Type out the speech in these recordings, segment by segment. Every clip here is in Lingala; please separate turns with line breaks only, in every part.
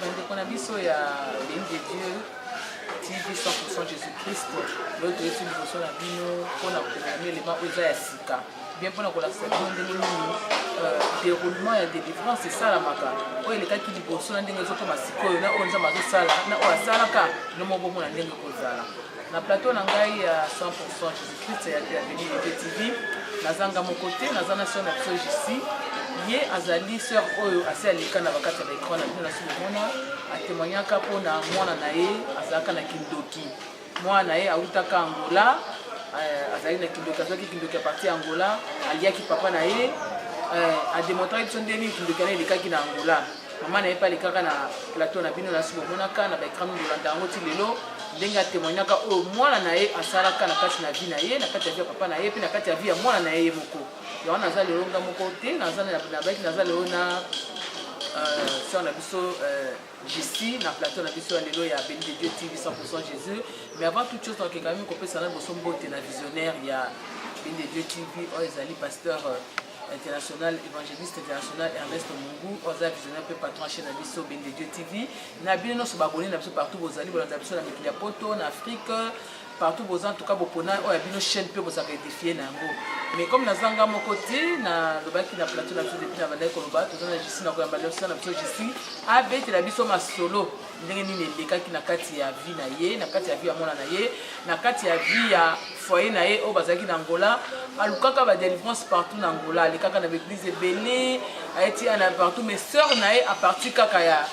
bandeko na biso ya beni de dieu tv 100 jésus christ oyo toyeti liboso na bino mpona komema elema oyo eza ya sika bien mpona kolakisa bino ndenge nini euh, déroulement ya délivrance esalamaka oyo elekaki liboso na ndenge ezokoma sikoyo na oyo nzambe azosala na oyo asalaka nomobomona ndenge ekozala na plateau na ngai ya 100 Christ ya Bienvenue de TV naza nga moko te naza na sœur na biso JC ye azali sœur oyo asi aleka na bakati ya baecran na bino na solo mona atemoignaka mpo na mwana na ye azalaka na kindoki mwana na ye awutaka angola euh, azali na kindoki azwaki kindoki ya parti ya angola aliaki papa na ye euh, ademontraki biso ndenge nini kindoki na elekaki na angola mama na ye mpe alekaka na plateau na bino nasi bomonaka na baekran bolanda yango ti lelo ndenge atemoignaka oyo mwana na ye asalaka na kati na vie na ye na kati ya vie ya papa na ye mpe na kati ya vie ya mwana na ye ye moko yango naza lelo nga moko te nabaki naza lelo na euh, sœur na biso euh, jesi na plateau na biso ya lelo ya beni de dieu tv 100 jésus mais avant toute chose nakeka mimi kopesa na liboso mbote na visionnaire ya beni de dieu tv oyo ezali pasteur euh, international évangéliste international ernest mungu oyo aza visionnaire mpe patron chaine na biso bende dieu tv na bino nyonso babone na biso partout bozali bolanda biso na mikili ya poto na afrique partout boza en tout cas bopona oyo ya bino chaîne mpe bozalaka edifie na yango mais comme naza nga moko te nalobaki na plateau na biso depuis na bandaki koloba toza na jusi na koyamba liosa na biso jusi abetela biso masolo ndenge nini elekaki na kati ya vie na ye na kati ya vie ya mwana na ye na kati ya vie ya foye na ye oyo bazalaki na angola alukaka badelivrance partout na angola alekaka na baeglise ebele ayeti ana partout mais sœur na ye aparti kaka ya,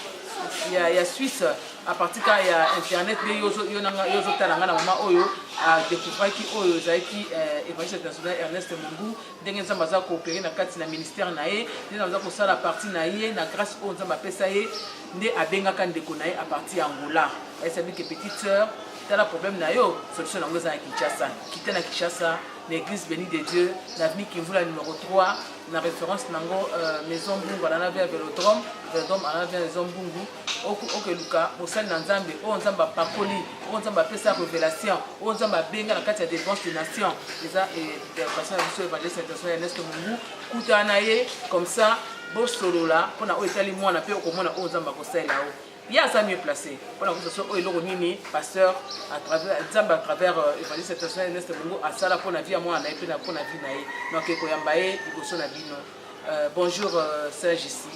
ya, ya suisse aparti kaka ya internet nde yo ozotala ngai na mama oyo adekouvraki oyo ezalaki eh, evangeliste international ernest mungu ndenge nzambe aza koopere na kati na ministère na ye nde nzambe aza kosala parti na ye na grâce oyo nzambe apesa ye nde abengaka ndeko na ye a partir ya Angola ayesabi ke petite sœur tala problème na yo solution na yango eza na Kinshasa kita na Kinshasa na église béni de Dieu na avenue Kimvula numéro 3 na référence na yango euh, maison Mbungu alana vers Velodrome Velodrome alana vers maison Mbungu okeluka mosali na nzambe oyo nzambe apakoli oyo nzambe apesa révélation oyo nzambe abenga na kati ya défense de nation eza eh, interprétation ya biso évangéliste international ya neste mungu kutana na ye comme ça bosolola mpona oyo etali mwana mpe okomona oyo nzambe akosalela yo ye aza mieux placé mpona kosa so oyo eloko nini pasteur nzambe à travers euh, evangeliste international ernest bongo asala mpona vie ya mwana na ye mpe mpona vie na ye donc ekoyamba ye liboso na bino euh, bonjour euh, serge ici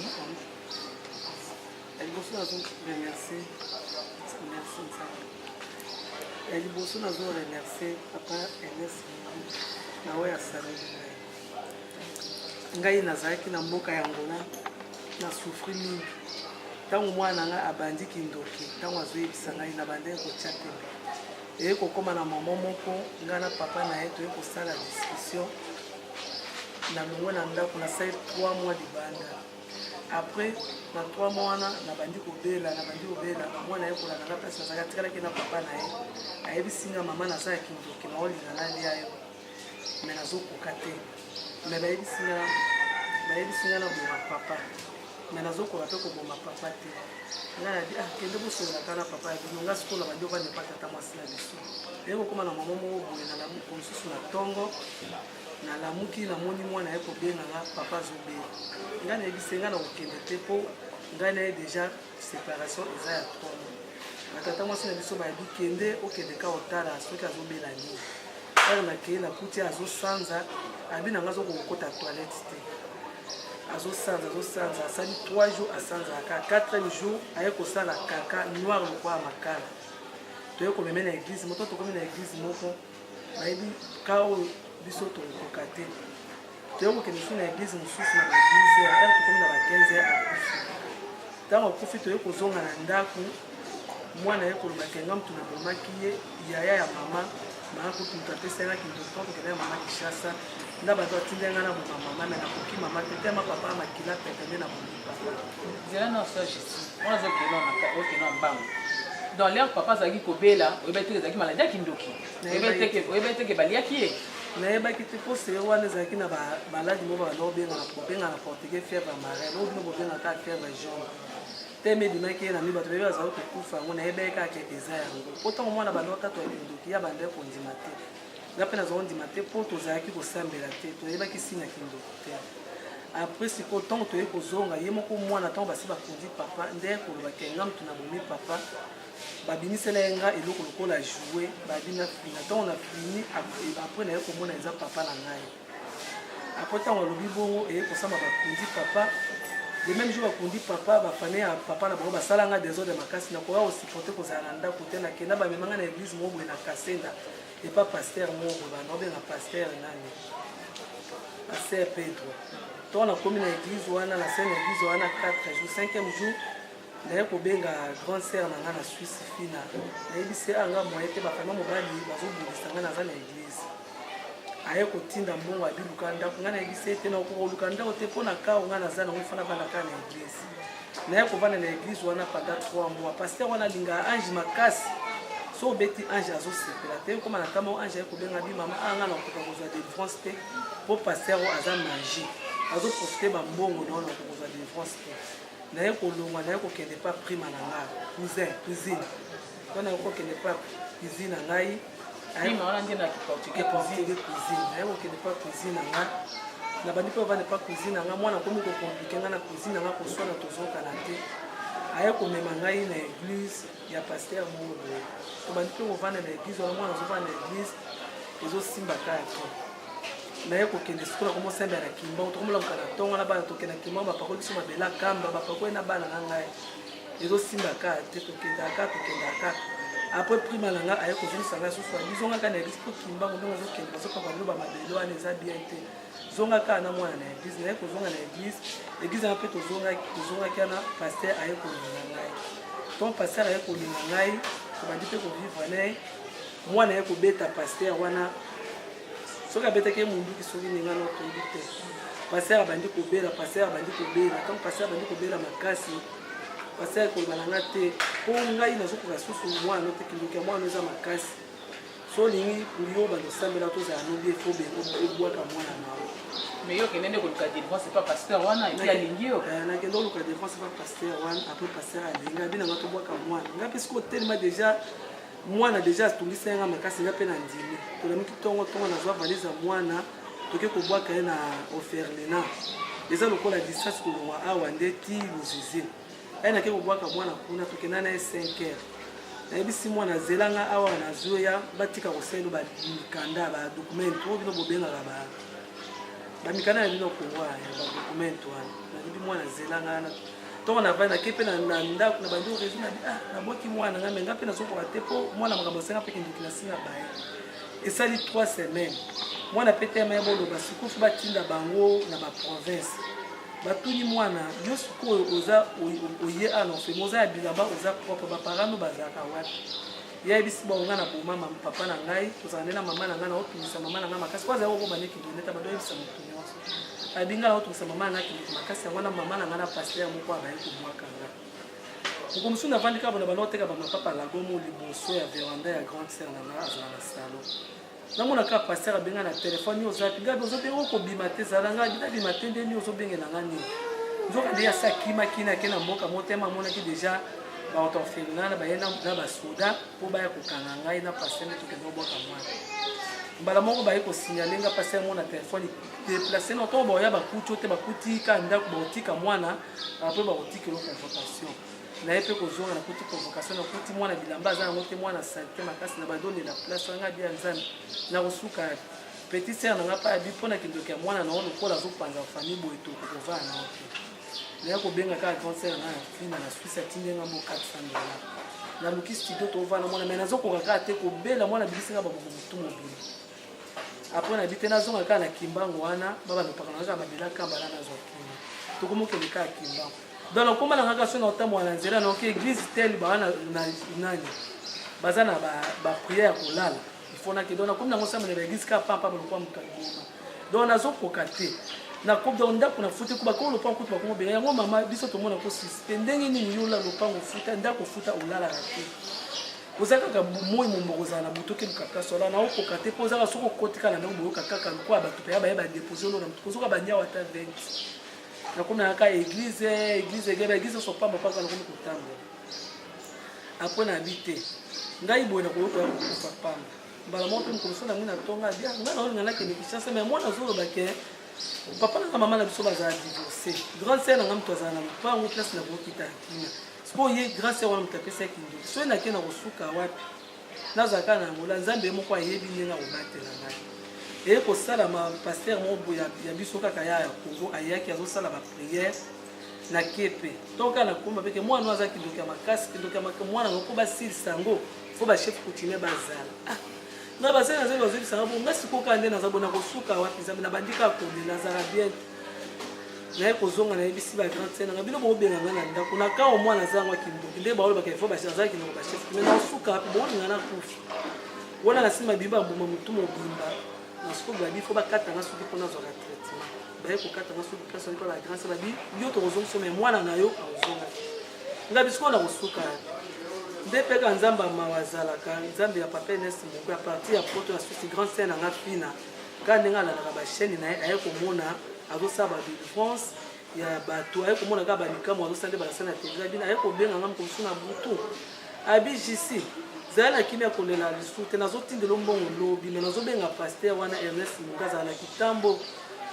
ya liboso nazo remercie merci nzambe ya
liboso nazo remercie papa ernest na oyo asaleli ngai nazalaki na mboka ya ngola na soufri mingi ntango mwana na ngai abandi kindoki ntango azoyebisa ngai na bandaki kotya tembe eye kokóma na mama moko ngai na papa na ye toye kosala discussion na longwe na ndako nasali 3 mois libanda après na 3 mois wana nabandi kobela nabandi kobela mwana ye kolanda nga place nazalaki atikalaki na papa na ye ayebisi nga mama naza ya kindoki maolinga nalia yo mais nazokoka te mais bayebisi nga bayebisi nga na boma papa mais nazokoka mpe koboma papa te nga nabi ah kende bosolola kaka na papa ya bino nga sikoyo na bandi ovandi epa tata mwasi na biso eye kokoma na mama moko boye na lamuko mosusu na ntongo nalamuki namoni mwana ye kobenga nga papa azobela nga nayebisi nga na kokende te mpo ngai na ye deja separation eza ya ntomo batata mwasi na biso bayebi kende okende ka otala soki azobela nini ere nakei nakuti azosanza abi na ngai azokokota toilette te azosanza azosanza asali 3 jours asanzaka 4 jour aye kosala kaka noir lokwa ya makala toye komeme na eglize moko tokomi na eglize moko nayebi kaa oyo biso tokokoka te toyei kokende soki na eglize mosusu na baeglize ya ere tokomi na ba 15 ya akufi ntango akufi toyei kozonga na ndako mwana ye koloba kenga motu na bomaki ye yaya ya mama mama kutu moto apesai na kindoki mpo kokenda ya mama kishasa nda bato atindai ngai na boma mama me nakoki mama te te ma papa makila pete nde na bomi nzela na osa
jesus wana azokenda mbango dans leur papa azalaki kobela oyebi te ezalaki maladi ya kindoki oyebi te ke baliaki ye nayebaki te mpo
sere wana ezalaki na baladi moko bana obengana kobengana portugais fièvre marine oyo bino bobengaka fièvre jaune teme ebimaki ye na mi bato bayebi bazali kokufa yango nayebaki kaka kete eza yango mpo ntango mwana banda otatu ya kindoki ya bandaki kondima te nga mpe nazwa ondima te mpo tozalaki kosambela te toyebaki nsina kindoki te après sikoyo ntango toyei kozonga ye moko mwana ntango basi bakundi papa nde koloba ke nga motu na bomi papa babimisela ye nga eloko lokola joue babi na fina ntango na fini après naye komona eza papa na ngai après ntango alobi bongo eye kosamba bakundi papa le même jour bakundi papa bafamille ya papa na bango basala nga desordre makasi nakoya kosiporte kozala na ndako te nakenda bamema nga na eglise moko boye na kasenda epa pasteur moko bana obenga pasteur nani pasteur pedro ntango nakomi na église wana na sene église wana 4 jour 5e jour naye kobenga grand sœur na nga na suisse fina nayebisi ye anga moye te bafama mobali bazobundisa nga naza na église aye kotinda mbongo abiluka ndako nga nayebisi ye te nakokoluka ndako te mpo na kao nga naza nango fana bana kaka na église naye kovanda na eglise wana pendant 3 mois pasteur wana alingaka ange makasi so obeti ange azosepela te okoma na kama ange aye kobenga bi mama anga ah, nakoka kozwa delivrance te mpo pasteur oyo aza magi azoprofite bambongo na wana nakoka kozwa delivrance te naye kolongwa naye kokende pa prima na ngai cousin cousine to naye kokende pa cuisine na ngai Prima wana nde na kiportugais cuisine. Cuisine, naye kokende pa cuisine na nga. Nabandi mpe ovande pa cuisine na nga, mwana akomi kokomplike nga na cuisine na nga, koswana tozokana te. Aye komema ngai na eglise ya pasteur moko boye. Tobandi mpe kovanda na eglise wana, mwana azovanda na eglise, ezosimba kaka te. naye kokende sikoyo na komosambela na kimbangu tokomolamuka na ntongo na bana tokende na kimbangu bapakoli biso mabele akamba bapakoli na bana na ngai ezosimba ka te tokendaka ka tokendaka ka après prima na nga aye kozongisa nga susu bizonga ka na eglise mpo kimbango ndenge ozokende bazoka baloba mabele wana eza bien te zonga ka na mwana na eglise naye kozonga na eglise eglise wana mpe tozongaki wana paster aye kolinga ngai ton paster aye kolinga ngai tobandi mpe kovivre naye mwana aye kobeta paster wana soki abetaki ye monduki soki ndenge wana okoyebi te paster abandi kobela paster abandi kobela ntango paster abandi kobela makasi basali koloba na nga te mpo ngai nazokoka susu mwana te kindoki ya mwana eza makasi so olingi yo bandosambela tozala nobi efo ebwaka mwana na yo mais yo okende nde
koluka délivrance epa pasteur wana epi alingi yo eh, nakende koluka délivrance
epa pasteur wana apres pasteur alingi abi nanga tobwaka mwana ngai mpe soki otelema déjà mwana deja atungisaki nga makasi nga mpe na ndimi tolamuki ntongo ntongo nazwa valise ya mwana toke kobwaka ye na oferlina eza lokola distance kolongwa awa nde ti luzizi aye nake kobwaka mwana kuna tokenda na ye 5 heures nayebisi mwana azela nga awa nazwi ya batika koselo bamikanda badokumento oyo bino bobengaka ba bamikanda na bino kongo ya badokumento wana nayebi mwana azela nga ntongo navandi nake mpe na ndako na bandi orezi na ah, nabwaki mwana nga me nga mpe nazokoka te mpo mwana makambo asenga mpe kindoki na nsi na baye esali 3 semaines mwana mpe teme boloba sikofi batinda bango na baprovince batuni mwana yo sikoyo oza oye a na ofemi oza ya bilamba oza propre baparano bazalaka wapi yayebisi bango ngai na boma papa na ngai tozala nde na mama na ngai na opimisa mama na ngai makasi po azali kokoma nde kindoneta badoyebisa motu babi ngai naotungisa mama na kindoki makasi yango wana mama na ngai na pastere moko abaye kobwaka nga moko mosusu navandi kaka bona banda oteka bamapapa lagomo liboso ya veranda ya grande sere na ngai azala na salo namona kaka pastere abenga na telefone yo ozapi gabi ozobenga okobima te zala ngai binabima te nde nini ozobengela ngai nini nzoka nde yasi akimaki nake na mboka motema amonaki deja baotorfelina na baye na basoda mpo baya kokanga ngai na pasteur nde tokende obwaka mwana mbala moko baye kosignale nga pasteur yango na telefone deplace na ntango baoya bakuti oyo te bakuti ka ndako bakotika mwana mpe bakotika elo convocation na ye mpe kozonga nakuti convocation nakuti mwana bilamba aza yango te mwana salite makasi na badonela place anga bia nzambe nakosuka petit sere na nga mpe abi mpo na kindoki ya mwana na yo lokola azopanza famille boye tokokovaa na yo te naya kobenga kaka grand sœur na fina na suisse atindi nga mo 400 dollars naluki studio tovanda mwana mai nazokoka kaka te kobela mwana abikisi nga babuku motu mobili apres nayebi te nazonga kaka na kimbangu wana babalopaka na kaka babela kamba na nazwa kima tokomokende kaka kimbangu donc nakoma na kaka so na otambola na nzela naoki église tel baa na nani baza na baprière ya kolala ifona ke donc nakomi nango sambela na eglise kaka pampa balokola moto alobima donc nazokoka te nakomi donc ndako nafuti ko bakoma lopango kutu bakoma obela yango mama biso tomona ko suspe ndenge nini yola lopango ofuta ndako ofuta olalaka te oza kaka moi mombo kozala na moto okeluka place wana naokoka te mpo ozaka soki okotika na ndenge boyoka kaka lokola bato mpenza baye badepose olona moto kozoka banyawa ata 20 nakomi nayaka eglize eglize egeba eglize osopamba mpaka nakomi kotambola apona abi te ngai boye na koyoka yango kokufa pamba mbala moko mpe mokolo sona yango na tonga abi ah, ngai naolinga nakende kinshasa mai mwana azoloba ke papa na mama na biso bazala divorce grande sere na ngai moto azala na lopango place na kokita ya kina sikoyo ye grande sere wana moto apesa kindoki soki nake na kosuka wapi nazala kaka na yangola nzambe ye moko ayebi ndenge akobatela ngai eye kosalama paster moko ya biso kaka ya ya kongo ayaki azosala bapriere na kepe toka na komba peke mwana oyo aza kindoki ya makasi kindoki ya makasi mwana yango mpo basilisa yango mpo bachef coutumier bazala ah, nga basali nazali bazebisa nga bonga sikokaa nde naza bona kosuka wapi nzambe nabandi kaka kolela azala bien naye kozonga nayebisi ba grande sene nga bino bokobenga nga na ndako na kao mwana aza yango akindoki nde baolo bakaifa azala kinoko bachef me nasuka wapi bolinga na kufi wana nasima bimba mbuma motu mobimba na sikoyo babi fo bakata nga soki mpo nazwaka traitement baye kokata nga soki place oyepa la grâce babi yo tokozongisa me mwana na yo akozonga nga bisiko na kosuka nde mpeka nzambe ya mawa azalaka nzambe ya papa enes moko ya parti ya poto ya susi grand sien na nga fina kaka ndenge alalaka bachaine na ye aye komona azosala badelivrance ya bato aye komona kaka bamikamo azosala nde balasana ya televizio abina aye kobenga nga mokomosu na butu abi jisi zala na kimia kolela lisusu te nazotindelo mbongo lobi me nazobenga paster wana ernest moka azala na kitambo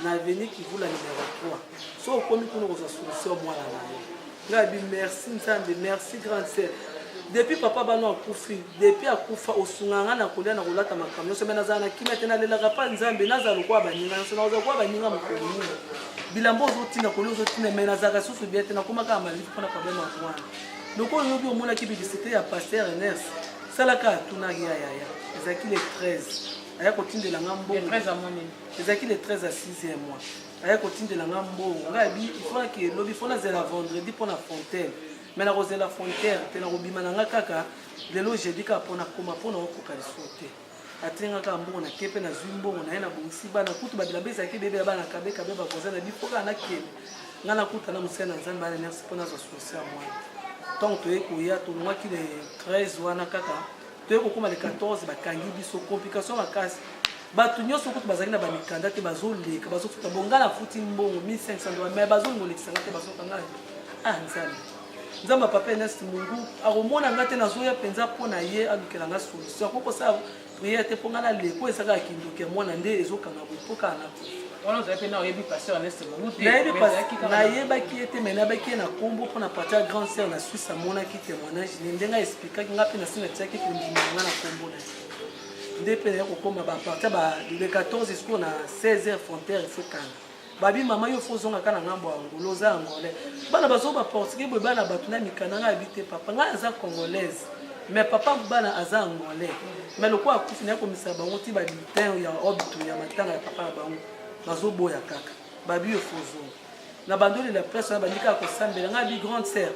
na avenue kivula numero 3 so okomi kuna okozwa solution mwana na yo ngai abi merci nzambe merci grande sœur depuis papa bano akufi depuis akufa osungaka ngai na kolia na kolata makambo nyonso me nazala na kimia te nalelaka mpa nzambe nazala lokola baninga nyonso nakozala lokola baninga mokolo nini bilambo ozotina kolia ozotina me nazalaka susu bia te nakomaka malili mpona problème yango wana lokola oyobi omonaki bibisite ya paster eners salaka atunaki ya yaya ezalaki le 13 aya kotindela nga mbongo
ezalaki le 13 ya
6 ya mois aya kotindela nga mbongo nga abi ifona ke lobi fona zela vendredi mpo na frontière me nakozela frontière te nakobima na nga kaka lelo jeudi kaka mpo nakoma mpo naokoka lisusu te atindi nga kaka mbongo nake mpe nazwi mbongo na ye nabongisi bana kutu babilamba ezalaki bebe ya bana kabekabe bakoza na bipo kaka nakende nga nakuta na mosali na nzambe ana merci mpo nazwa sosi ya mwana ntango toye koya tolongwaki le 13 wana kaka toye kokoma le 14 bakangi biso complication makasi bato nyonso kutu bazali na bamikanda te bazoleka bazofuta bo ngai nafuti mbongo 1500 dola mai bazolinga olekisa ngai te bazoka ngai ah nzambe nzambe papa enest mungu akomona ngai te nazoya mpenza mpo na ye alukela ngai solution akoki kosala priere te mpo ngai naleko ezalaka kindoki ya mwana nde ezokanga boye mpo kaka wana ozali mpe na oyebi pasteur aneste mongo te nayebaki ye te mai nayebaki ye na nkombo mpo na parti ya grande sœur na suisse amonaki témoignage ne ndenge aexplikaki nga mpe nasi natiaki kondima nga na nkombo na ye nde mpe naye kokoma baparti ba le 14 jusqu'o na 16 heures frontière efo kanga babi mama yo fo ozongaka na ngambo ya ngolo oza angolais bana bazo baportugais boye bana bato na mikanda ngai abi te papa ngai aza congolaise mais papa bana aza angolais mais lokola akufi naye komisala bango ti babi teint ya robe to ya matanga ya papa na bango bazoboya kaka babi yo fozo na bandoli la place wana bandika kosambela ngai bi grande sœur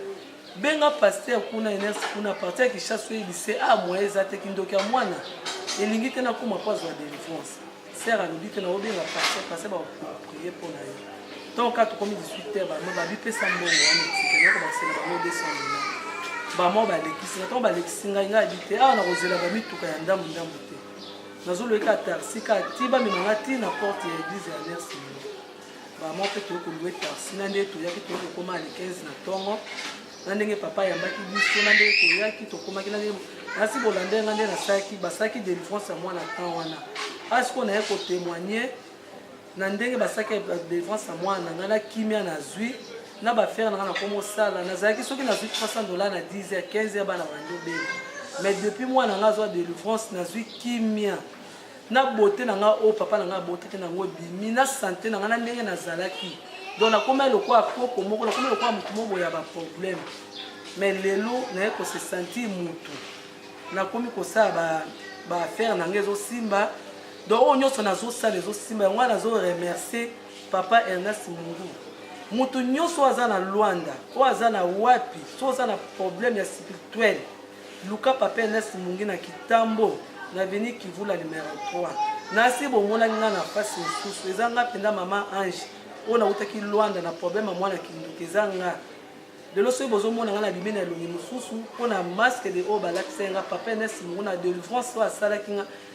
benga paster kuna enersi kuna parti ya kishasa oyebise a ah, moye eza te kindoki ya mwana elingi te nakoma mpo azwa delivrance sere alobi te naobenga paster paster bakopriye mpo na ye ntango kaka tokomi 18 heure bama babipesa mbongo wana etikeyoko basela bango 200 dola bama balekisi na ntango balekisi ngai ngai abi te awa ah, nakozela bamituka ya ndambu ndambu te nazolobi kaka tarsi kaka ti bamema nga ti na porte ya eglise ya nersi bamwa mpe toyei kolue tarsi na nde toyaki toyei kokoma le 15 na ntongo na ndenge papa ayambaki biso na ndenge toyaki tokomaki na ndenge nasi bolanda nga nde nasalaki basalaki delivrance ya mwana temps wana asikoyo naye kotemoigne na ndenge basalaki ya délivrance ya mwana na ngai na kimia nazwi na bafere na ngai nakomosala nazalaki soki nazwi 300 dollar na 10 ya 15 ya bana bandi obeli mais depuis mwana na ngai azwa délivrance nazwi kimia na bote na ngai oyo papa na ngai abotaki nango ebimi na sante na ngai na ndenge nazalaki donc nakomai lokola koko moko nakomai lokola motu moko boya baproblème mais lelo naye kose sentir motu nakomi kosala baaffaire na ngai ezosimba donc oyo nyonso nazosala ezosimba yango wana nazo remercier papa ernest mungu moto nyonso oyo aza na lwanda oyo aza na wapi so oza na problème ya spirituel luka papa ernest mungi na kitambo na veni kivula numero 3 nasi bomonaki nga na mpasi mosusu eza nga mpenza mama ange oyo nautaki lwanda na problème ya mwana kinduki eza nga lelo soki bozomona ngai na bimi na elongi mosusu mpo na masque de oyo balakisaki nga papa ernest mungu na delivrance oyo asalaki nga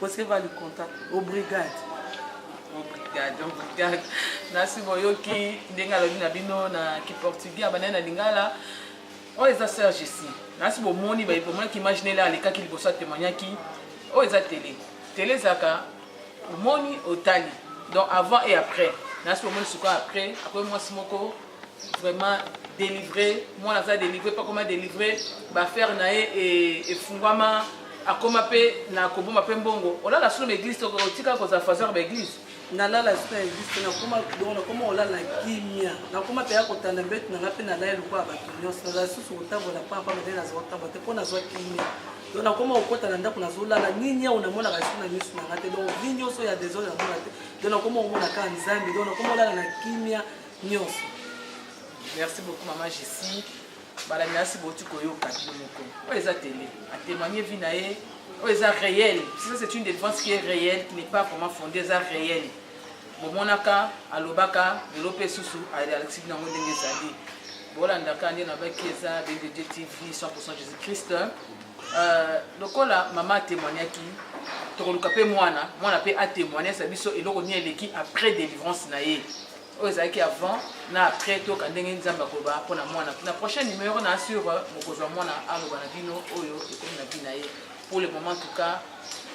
Você vai lhe contar. Obrigado. Obrigado,
obrigado. Nasi boyoki ndenge alobi na bino na kiportugais abandani na lingala oyo oh, eza sœur jessi nasi bomoni baye bomonaki image nele alekaki liboso atemoignaki oyo oh, eza tele tele ezalaka omoni otali donc avant et après nasi bomoni sikoyo après akomi mwasi moko vraiment délivré mwana aza délivré mpe akoma délivré baaffaire na ye e, efungwama akoma mpe na koboma mpe mbongo olala solo na église otika kozala faseur ba église nalala sina
existe nakoma dongo nakoma olala kimia nakoma mpe ya kotanda mbeti nanga mpe nalali lokola bato nyonso nazala susu kotambola mpa mpa ndenge nazwa kotambola te mpo nazwa kimia do nakoma kokota na ndako nazolala nini yango namonaka esi na miso nanga te donc nini nyonso ya desordre namonaka te do nakoma komona kaka nzambe do nakoma olala na kimia nyonso
merci beaucoup mama jesi balandi nasi boti koyoka bino moko oyo eza tele atémoigne vie na ye oyo eza réel ça c'est une défense qui est réelle qui n'est pas vraiment fondée eza réel bomonaka alobaka lelo mpe susu alakisi bino yango ndenge ezali bolandaka nde nabaki eza bdd tv 100 jésus christ euh, lokola mama atémoignaki tokoluka mpe mwana mwana mpe atémoignesa biso eloko nini eleki après délivrance na ye oyo ezalaki avant na après toyoka ndenge nzambe akoloba mpo na mwana na prochain numéro na sur euh, mokozwa mwana aloba na bino oyo ekomi na bina ye pour le moment tout cas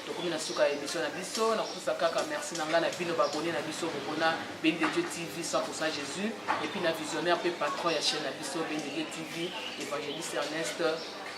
tokomi na suka ya émission na biso nakopesa kaka merci na ngai na bino babone na biso bokona beni de dieu tv 100 jésus epuis na visionnaire mpe patron ya chaîne na biso beni de dieu tv évangéliste ernest